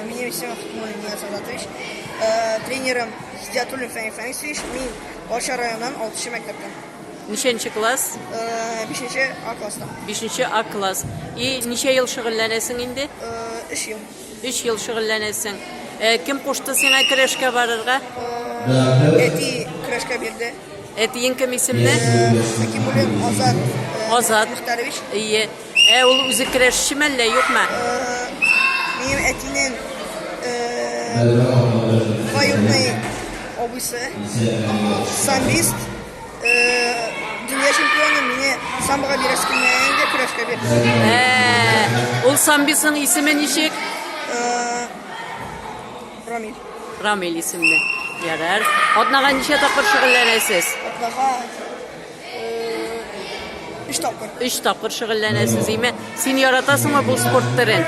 Меня все мой меня Садатович. Э, тренером Зятулин Фәни Фәнисович. Мин Баша районынан 6 мәктәптән. Ничәнче класс? Э, бишенче А класста. Бишенче А класс. И ничә ел шөгыльләнәсең инде? Э, өч ел. Өч ел шөгыльләнәсең. Э, кем кушты сиңа көрәшкә барырга? Әти көрәшкә бирде. Әтиең кем исемле? Хәкимуллин Азат. Азат. Мөхтәрович. Ие. Ә ул үзе керәшчеме әллә юкмы? Минем әтинең двоюродный абыйсы, самбист, дөнья чемпионы, мине самбоға бирәсе килмәгәнгә көрәшкә бирде. Ул самбисның исеме ничек? Рамиль. Рамиль исемле. Ярар. Атнага ничә тапкыр шөгыльләнәсез? Атнага Өч тапкыр. Өч тапкыр шөгыльләнәсез, име? Син яратасыңмы бу спорт төрен?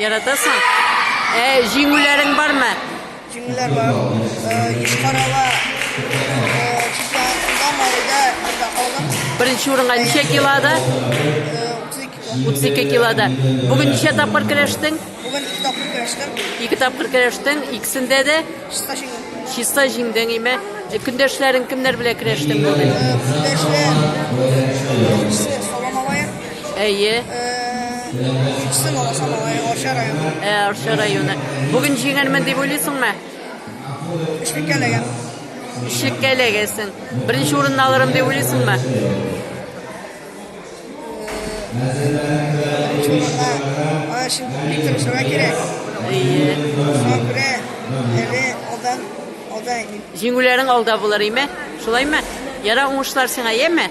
Яратасың? Ә җиңүләрең бармы? Җиңүләр бар. Югары Беренче урынга ничә килода? 32 килода. Бүген ничә тапкыр көрәштең? Бүген ике тапкыр көрәштем. Ике тапкыр көрәштең, икесендә дә чиста җиңдем. Чиста җиңдең, име? Э, көндәшләрең кемнәр белән көрәштең бүген? Э, Күздәшләр, беренчесе Сала малае, Әйе. икенчесе э, Лаласа малае, Арча районы. Ә, Арча районы. Бүген җиңәрмен дип уйлыйсыңмы? Өчлеккә эләгәм. Өчлеккә эләгәсең. Беренче урынны алырым дип уйлыйсыңмы? Җиңүләрең алда булыр, име? Шулаймы? Ярар, уңышлар сиңа, яме?